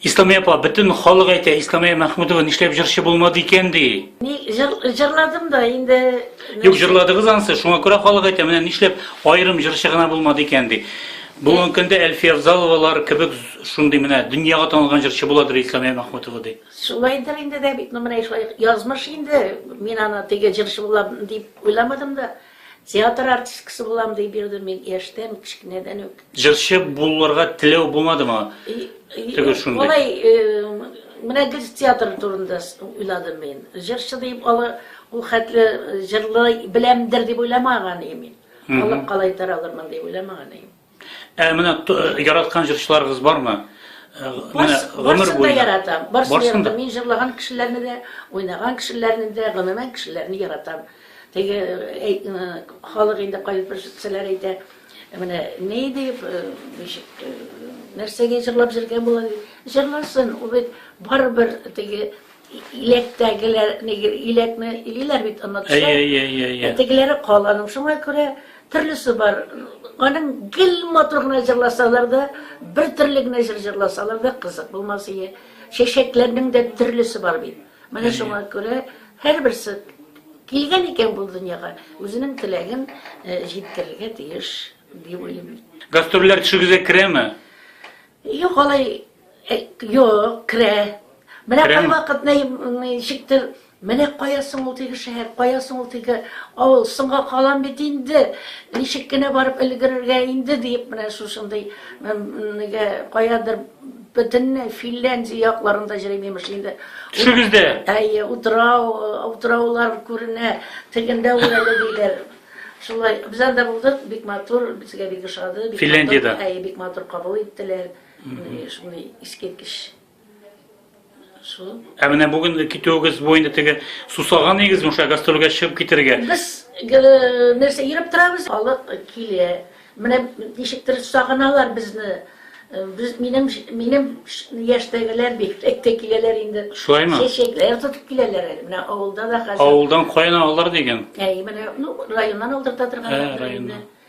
Исламия апа, бөтен халык әйтә, Исламия Мәхмүдова нишләп җырчы булмады икән ди. Ни җыр, җырладым да инде. Юк, җырладыгыз ансы, шуңа күрә халык әйтә, менә нишләп аерым җырчы гына булмады икән ди. Бүгенге көндә Әлфия Авзаловалар кебек шундый менә дөньяга танылган җырчы буладыр Исламия Мәхмүтова ди. Шулайдыр инде дә бит, ну менә шулай язмыш инде. Мин аны теге җырчы булам дип уйламадым да. Театр артисткасы булам дип йөрдем мин яшьтән, кечкенәдән үк. Җырчы булырга теләү булмадымы? Теге шундый. Алай, менә гел театр турында уйладым мин. Җырчы дип алы, ул хәтле җырлый беләмдер дип уйламаган идем мин. Алып калай таралырмын дип уйламаган идем. Ә менә яраткан җырчыларыгыз бармы? Э, менә гомер буе яратам. Барсын да. Мин җырлаган кешеләрне дә, уйнаган кешеләрне дә, гомумән кешеләрне яратам. Теге э, э, халык инде кайбер бер җырчылар әйтә, менә ни дип, ничек, нәрсәгә җырлап җөргән була дип. Җырласын, ул бит барыбер теге Иләктәгеләр, нигер, иләкне илиләр бит, онытса. Әйе, әйе, әйе, әйе. Ә тегеләре каланың, шуңа күрә төрлесе бар. Аның гел матур гына җырласалар да, бер төрле генә җыр җырласалар да кызык булмас ие. Чәчәкләрнең дә төрлесе бар бит. Менә шуңа күрә һәрберсе килгән икән бу дөньяга, үзенең теләген э, җиткерергә тиеш, дип уйлыйм. Гастрольләр төшегезгә керәме? Юк, алай Э, Юк, керә. Менә Керәме? кайвакыт нәй- м, ничектер, менә кая соң ул теге шәһәр, кая соң ул теге авыл, соңга калам бит инде, ничек кенә барып өлгерергә инде диеп, менә шушындый м, нигә, каядыр бөтенләй Финляндия якларында йөрим, имеш инде. Төшегездә. Әйе, утрау, утраулар күренә, тегендә ул әле диләр. Шулай, без анда булдык, бик матур, безгә бик ошады. бик матур, Финляндиядә? Әйе, бик матур кабул иттеләр. Шулай искиткеч. Шул. Ә менә бүгенге китүегез бу инде теге сусаган игезме шулай гастрольгә чыгып китергә? Без нәрсә йөреп торабыз, халык килә. Менә ничектер сагыналар безне. Без минем минем яшьтәгеләр бик тә киләләр инде. Шулаймы? Чәчәкләр тотып киләләр әле. Менә авылда да хәзер. Авылдан каян алалар дигән? Әй, менә ну районнан алдырта торганнар. Ә, районнан.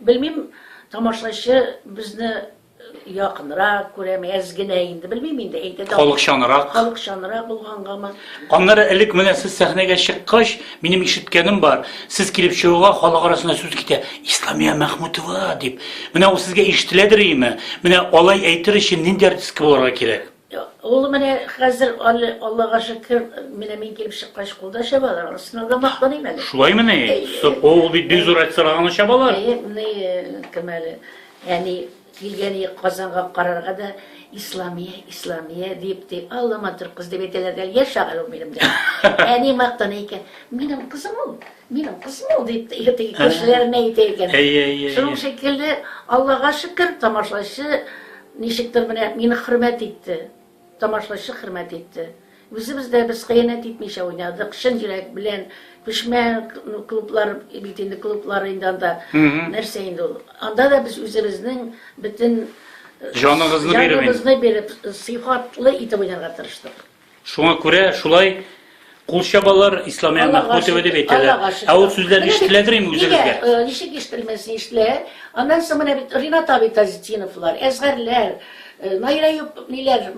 Белмим, тамашачы безне якынрак күрәме, әз генә инде, белмим инде, әйтә дә. Халыкчанрак. Халыкчанрак булгангамы? Аннары элек менә сез сәхнәгә чыккач, минем ишеткәнем бар. Сез килеп чыгуга халык арасында сүз китә. Исламия Мәхмүтова дип. Менә ул сезгә ишетеләдер име? Менә алай әйтер өчен нинди артистка булырга кирәк? Ул менә хәзер, Аллага шөкер, менә мин килеп чыккач, кулда чабалар. Анысына да мактаныйм әле. Шулаймы ни? Сырпы ул бит бик зур әйтсәләр, аны чабалар. Әйе, ни, кем әле? Әни килгәне Казанга карарга да Исламия, Исламия дип ти. Алла матур кыз дип әйтәләр дә, яшь шагыйрь ул минем дә. Әни мактана икән. Минем кызым ул, минем кызым ул дип теге кешеләренә әйтә икән. Әйе, әйе. Шуның шикелле, Аллага шөкер, тамашачы Ничектер менә мине хөрмәт итте, тамашлачы хөрмәт итте. Үзебез дә без хыянәт итмичә уйнадык, чын йөрәк белән. Күчмә клублар бит инде, клублар инде анда. Нәрсә инде ул? Анда да без үзебезнең бөтен Җаныгызны биреп инде. Җаныгызны биреп, сыйфатлы итеп уйнарга тырыштык. Шуңа күрә шулай кул чабалар Исламия Мәхмүтова дип әйтәләр. Ә ул сүзләр ишетеләдер инде үзегезгә. Э, ничек ишетелмәсен ишетелә. Аннан соң менә бит Ринат абый Тазетдиновлар, Әзгәрләр, э, Найра ниләр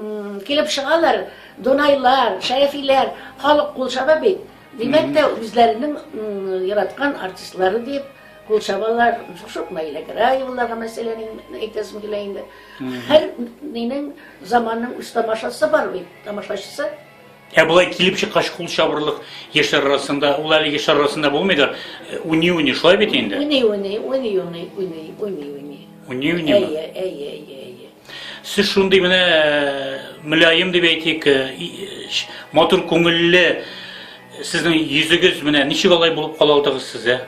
килеп чыгалар, Донайлар, Шәрәфиләр, халык кул чаба бит. Димәк тә үзләренең яраткан артистлары дип кул чабалар. Шук Наилә Граеваларга мәсәлән әйтәсем килә инде. Һәр нинең заманның үз тамашасы бар бит, тамашачысы. Ә болай килеп чыккач кул чабырлык яшьләр арасында, ул әле яшьләр арасында булмыйдыр. Уни-уни шулай бит инде. Уни-уни, уни-уни, уни, уни-уни. Уни-уни. Әйе, әйе, әйе, әйе. Сез шундый менә э, мөлаем дип әйтик, э, матур күңелле, сезнең йөзегез менә ничек алай булып кала алдыгыз сез, ә?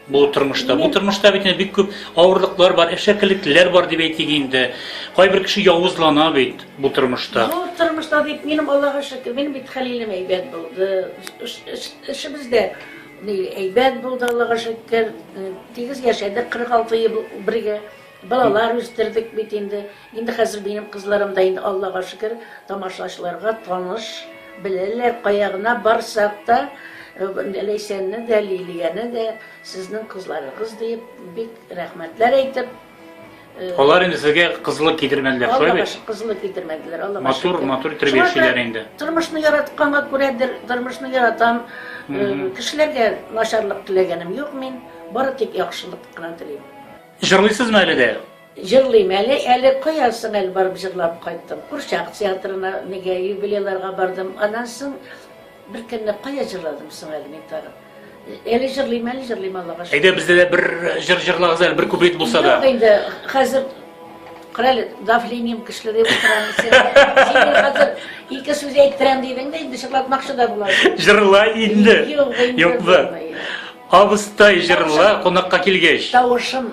Бу тормышта, бу тормышта бит бик күп авырлыклар бар, әшәкелекләр бар дип әйтик инде. Кайбер кеше явызлана бит бу тормышта. Бу тормышта дип минем Аллага шөкер, минем бит хәлилем әйбәт булды. Эшебез дә әйбәт булды, Аллага шөкер. Тигез яшәдек 46 ел бергә. Балалар үстердек бит инде. Инде хәзер минем кызларым да инде, Аллага шөкер, тамашачыларга таныш, беләләр, кая гына барсак та, Ләйсәнне дә, Лилияне дә, сезнең кызларыгыз диеп, бик рәхмәтләр әйтеп, Алар инде сезгә кызлык китермәделәр, шулай бит? Аллага кызлык китермәделәр, Аллага шөкер. Матур, матур итеп яшиләр инде. Тормышны яратканга күрәдер, тормышны яратам. Кешеләргә начарлык теләгәнем юк мин, бары тик яхшылык кына телим. Җырлыйсызмы әле дә? Җырлыйм әле, әле кая соң әле барып җырлап кайттым. Курчак театрына, нигә юбилейларга бардым. Аннан соң беркөнне кая җырладым соң әле мин тагын. Әле җырлыйм, әле җырлыйм, Аллага шөкер. Әйдә бездә дә бер җыр җырлагыз әле, бер куплет булса да. Юк инде, хәзер Крале, давлением көчле дип утырам. Син хәзер ике сүз әйттерәм дидең дә, инде шыклатмакчы да була. Җырла инде. Юк, юк. Абыстай җырла, кунакка килгәч. Тавышым